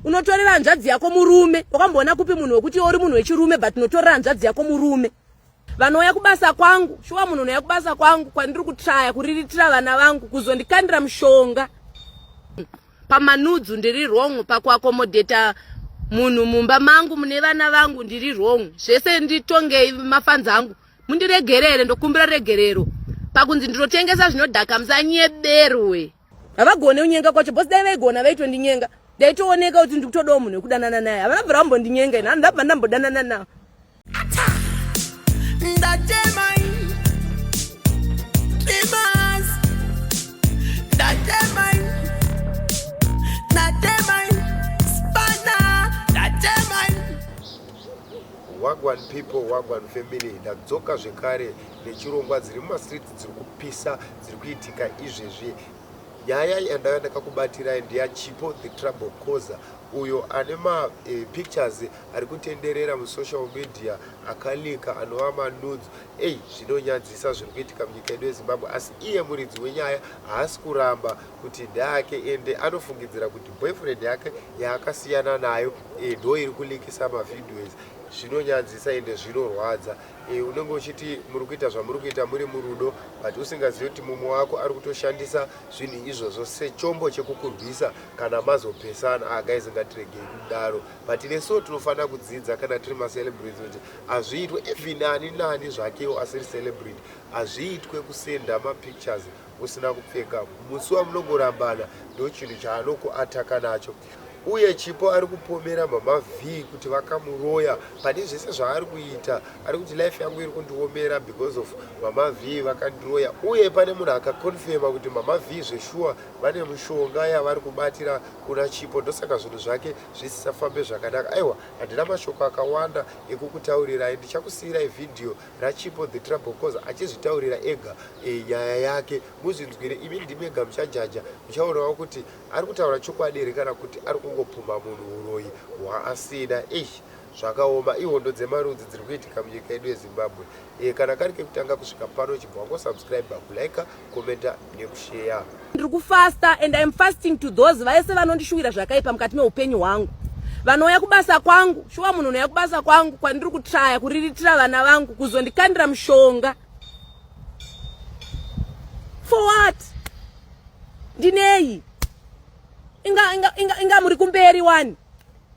unotorera hanzvadzi yako murume wakamboona kupi munhu wekuti iwe uri munhu wechirume but unotorera hanzvadzi yako murume vanouya kubasa kwangu shuwa munhu unouya kubasa kwangu kwandiri kutraya kuriritira vana vangu kuzondikandira mushonga pamanudzu ndiri wrong pakuakomodheta munhu mumba mangu mune vana vangu ndiri wrong zvese nditongei mafanzi angu mundiregerere ndokumbira regerero pakunzi ndinotengesa zvinodhaka musanyeberwe havagone unyenga kwacho bcause dai vaigona vaitondinyenga ndaitooneka kuti ndikutodawo munhu wekudanana naye havana bvira vambondinyenga ini handi ndabva ndambodanana nawo wagwan people wagwan family ndadzoka zvekare nechirongwa dziri mumastreets dziri kupisa dziri kuitika izvezvi nyaya yandave ndakakubatirai ndeyachipo the trouble causer uyo ane mapictures eh, e, ari kutenderera musocial media akalika anova manudzo ei zvinonyadzisa zviri kuitika munyika yedu yezimbabwe asi iye muridzi wenyaya haasi kuramba kuti ndeake ende anofungidzira kuti boyfriend yake yaakasiyana nayo eh, ndo iri kulikisa mavhidios zvinonyadzisa ende zvinorwadza Eh, unenge uchiti muri kuita zvamuri kuita muri murudo but usingazivi kuti mumwe wako ari kutoshandisa zvinhu izvozvo sechombo chekukurwisa kana mazopesana ah, guys ngatiregei kudaro but neso tinofanira kudzidza kana tiri macelebrity kuti hazviitwe even ani nani zvakewo asiri celebrity hazviitwe kusenda mapictures usina kupfeka musi wamunongorambana ndochinhu chaanokuataka nacho uye Chipo ari kupomera mama Vee kuti vakamuroya pane zvese zvaari kuita ari kuti life yangu iri kundiomera because of mama Vee vakandiroya uye pane munhu akakonfema kuti mama Vee zveshuwa vane mushonga yavari kubatira kuna Chipo ndosaka zvinhu zvake zvisisafambe zvakanaka aiwa handina mashoko akawanda ekukutaurirai ndichakusiyirai vhidhiyo raChipo the trouble cause achizvitaurira ega e, nyaya yake muzvinzwire imi ndimega muchajaja muchaonawo kuti Ari kutaura chokwadi here kana kuti ari kungopumha munhu huroyi hwaasina? Eish zvakaoma ihondo dzemarudzi dziri kuitika munyika yedu yezimbabwe e, kana kari kekutanga kusvika pano chibva wangosubscribe kulike commenta nekusheya ndiri kufasta and iam fasting to those vaese vanondishuwira zvakaipa mukati meupenyu hwangu vanouya kubasa kwangu shuwa munhu unouya kubasa kwangu kwandiri kutraya kuriritira vana vangu kuzondikandira mushonga for what ndinei inga inga inga, inga muri kumberi wani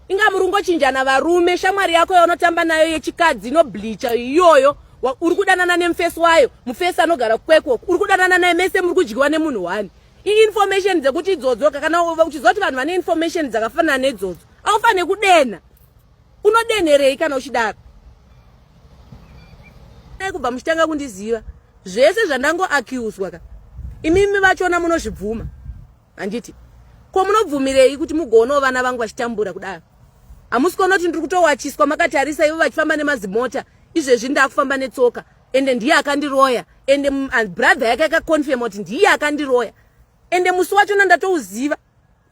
inga muri kungochinjana varume shamwari yako yaunotamba nayo yechikadzi inobleacha iyoyo uri kudanana nemufesi wayo mufesi anogara kwekwo uri kudanana naye mese muri kudyiwa nemunhu wani iinformation dzekuti idzodzo kana uchiziva kuti vanhu vane information dzakafanana nedzodzo aufanire kudenha unodenherei kana uchidaro dai kubva muchitanga kundiziva zvese zvandango accuswa ka imimi vachona munozvibvuma handiti ko munobvumirei kuti mugoonawo vana vangu vachitambura kudaro hamusi kuona kuti ndiri kutowachiswa makatarisa ivo vachifamba nemazimota izvezvi ndakufamba netsoka ende ndiye akandiroya ende brother yake akaconfirma kuti ndiye akandiroya ende musi wachona ndatouziva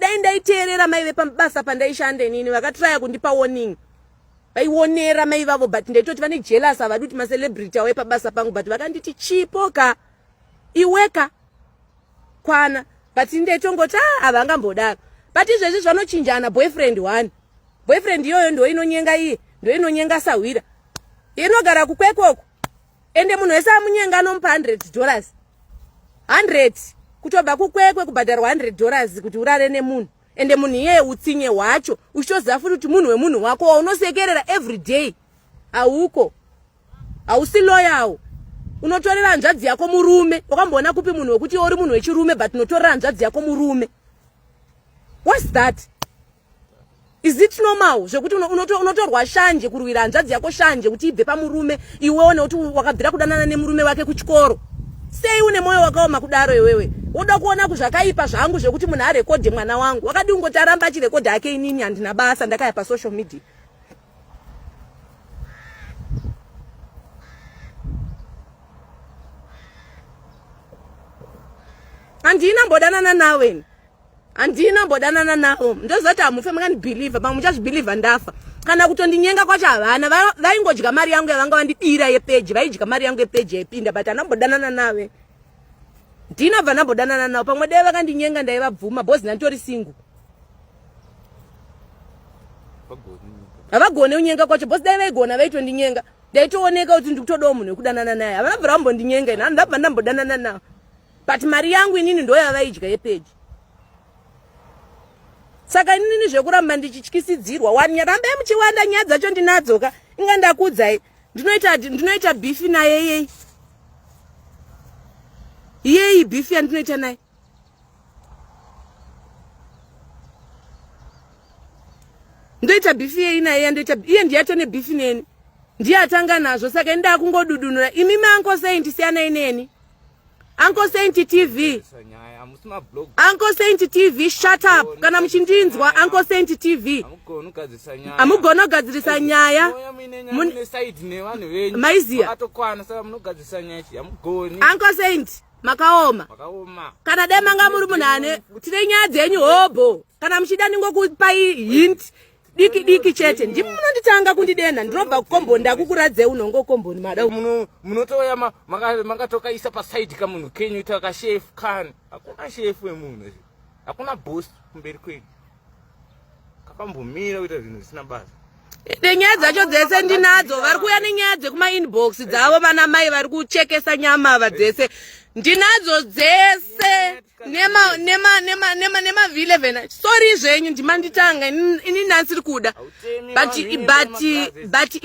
dai ndaiteerera mai vepabasa pandaishanda inini vakatraya kundipa warning vaionera mai vavo but ndaitoti vane jealous havadi kuti macelebrity auye pabasa pangu but vakanditi chipo ka iweka kwana but ndaitongoti a ah, havangambodaro but izvezvi zvanochinjana boyfriend one boyfriend iyoyo ndoinonyenga iye ndoinonyenga sahwira inogara kukwekoko ende munhu wese amunyenga anomupa 100 dollars 100 kutobva kukwekwe kubhadharwa 100 dollars kuti urare nemunhu ende munhu iyeye utsinye hwacho uchitoziva futi kuti munhu wemunhu wako waunosekerera every day hauko hausi loyawo unotorera hanzvadzi yako murume wakamboona kupi munhu wekuti uri munhu wechirume but unotorera hanzvadzi yako murume whats that Is it normal zvekuti unotorwa unoto, unoto shanje kurwira hanzvadzi yako shanje kuti ibve pamurume iwewo nekuti wakabvira kudanana nemurume wake kuchikoro sei une mwoyo wakaoma kudaro iwewe woda kuona kuzvakaipa zvangu zvekuti munhu arekodhe mwana wangu wakadi kungoti aramba achirekodha hake inini handina basa ndakaya pasocial media handina mbodanana naweni handina mbodanana navo ndozoti hamufe makandibhilivha pamwe muchazvibhilivha ndafa kana kutondinyenga kwacho havana vaingodya mari yangu yavanga vandibira yepeji vaidya mari yangu yepeji yaipinda but hanambodanana nave ndina bva nambodanana navo pamwe dai vakandinyenga ndaivabvuma bhozi ndanditori singu havagone unyenga kwacho bhozi dai vaigona vaitondinyenga ndaitooneka kuti ndikutodawo munhu wekudanana naye havana bvira vambondinyenga ini hanodabva ndambodanana navo but mari yangu inini ndoyavaidya yepeji saka inini zvekuramba ndichityisidzirwa wani rambai muchiwanda nyaya dzacho ndinadzoka inga ndakudzai ndinoita ndinoita bifi naye yeyi yeyi bifi yandinoita naye ndoita bifi yeyi naye yandoita iye ndiyato nebifi neni ndiye atanga nazvo saka ini ndakungodudunura imi manko sei ndisiyanai neni Uncle Saint TV. Uncle Saint TV, shut up. Kana muchindinzwa Uncle Saint TV. Amugona kugadzirisa nyaya. Maiziya. Uncle Saint makaoma. Kana dai manga muri munhu ane tine nyaya dzenyu hobho. Kana muchida ndingokupai hint. diki diki chete ndimi munonditanga kundidenha ndinobva kukomboni ndakukuradzei unonge ukomboni mada munotouya makatokaisa pasaidi kamunhu kenyu ita kashefu kani hakuna shefu wemunhu hakuna bos kumberi kwenyu kakambomira kuita zvinhu zvisina basa nenyaya dzacho dzese ndinadzo vari kuuya nenyaya dzekumainbox dzavo vana mai vari kuchekesa nyama ava dzese ndinadzo dzese nema nema nema nema nema vile vena sorry zvenyu ndimanditanga ini nansi rikuda but but but